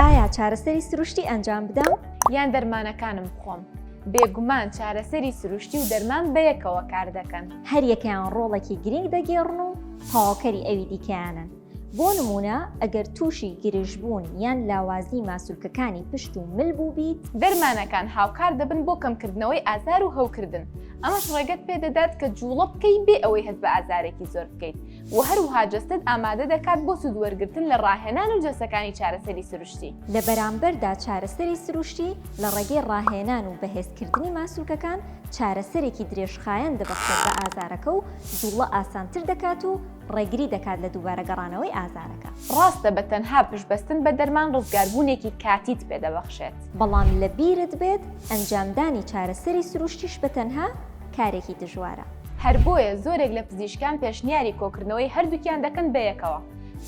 ئایا چارەسەری سروشتی ئەنجام بدەم؟ یان دەرمانەکانم بخۆم؟ بێگومان چارەسەری سروشتی و دەرمان بەیەکەوە کاردەکەن. هەریەکەیان ڕۆڵێکی گرنگ دەگێڕن و تەواوکەری ئەوی دیکەیانن. بۆ نموونە ئەگەر تووشی گرژبوون یان لاوازی ماسولکەکانی پشت و مل بووبیت، دەرمانەکان هاوکار دەبن بۆ کەمکردنەوەی ئازار و هەوکردن، ئەمەش ڕێگەت پێدەدات کە جووڵە بکەیت بێ ئەوەی هەست بە ئازارێکی زۆر بکەیت. و هەروها جەستەت ئامادە دەکات بۆ سوود وەرگرتن لە ڕاهێنان و جەلسەکانی چارەسەری سروشتی. لە بەرامبەردا چارەسەری سروشتی لە ڕێگەی ڕاهێنان و بەهێزکردنی ماسولکەکان چارەسەرێکی درێژخایەن دەبەخشێت بە ئازارەکە و جوڵە ئاسانتر دەکات و ڕێگری دەکات لە دووبارە گەڕانەوەی ئازارەکە. ڕاستە بە تەنها پشتبەستن بە دەرمان ڕزگاربوونێکی کاتیت پێدەبەخشێت. بەڵام لەبیرت بێت ئەنجامدانی چارەسەری سروشتیش بە تەنها، کارێکی دژوارە. هەر بۆیە زۆرێک لە پزیشکان پێشنیاری کۆکردنەوەی هەردووکیان دەکەن بە یەکەوە،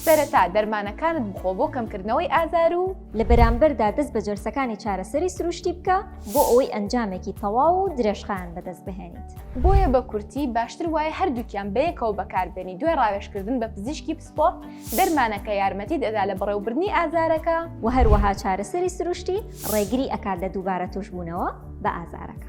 سەرەتا دەرمانەکانت بخۆ بۆ کەمکردنەوەی ئازار و، لە بەرامبەردا دەست بە جەلسەکانی چارەسەری سروشتی بکە بۆ ئەوەی ئەنجامێکی تەواو و درێژخایەن بەدەست بهێنیت. بۆیە بە کورتی باشتر وایە هەردووکیان بە یەکەوە بەکاربێنی، دوای ڕاوێژکردن بە پزیشکی پسپۆڕ، دەرمانەکە یارمەتیت ئەدا لە بەڕێوەبردنی ئازارەکە، وە هەروەها چارەسەری سروشتی ڕێگری ئەکات لە دووبارە تووشبوونەوە بە ئازارەکە.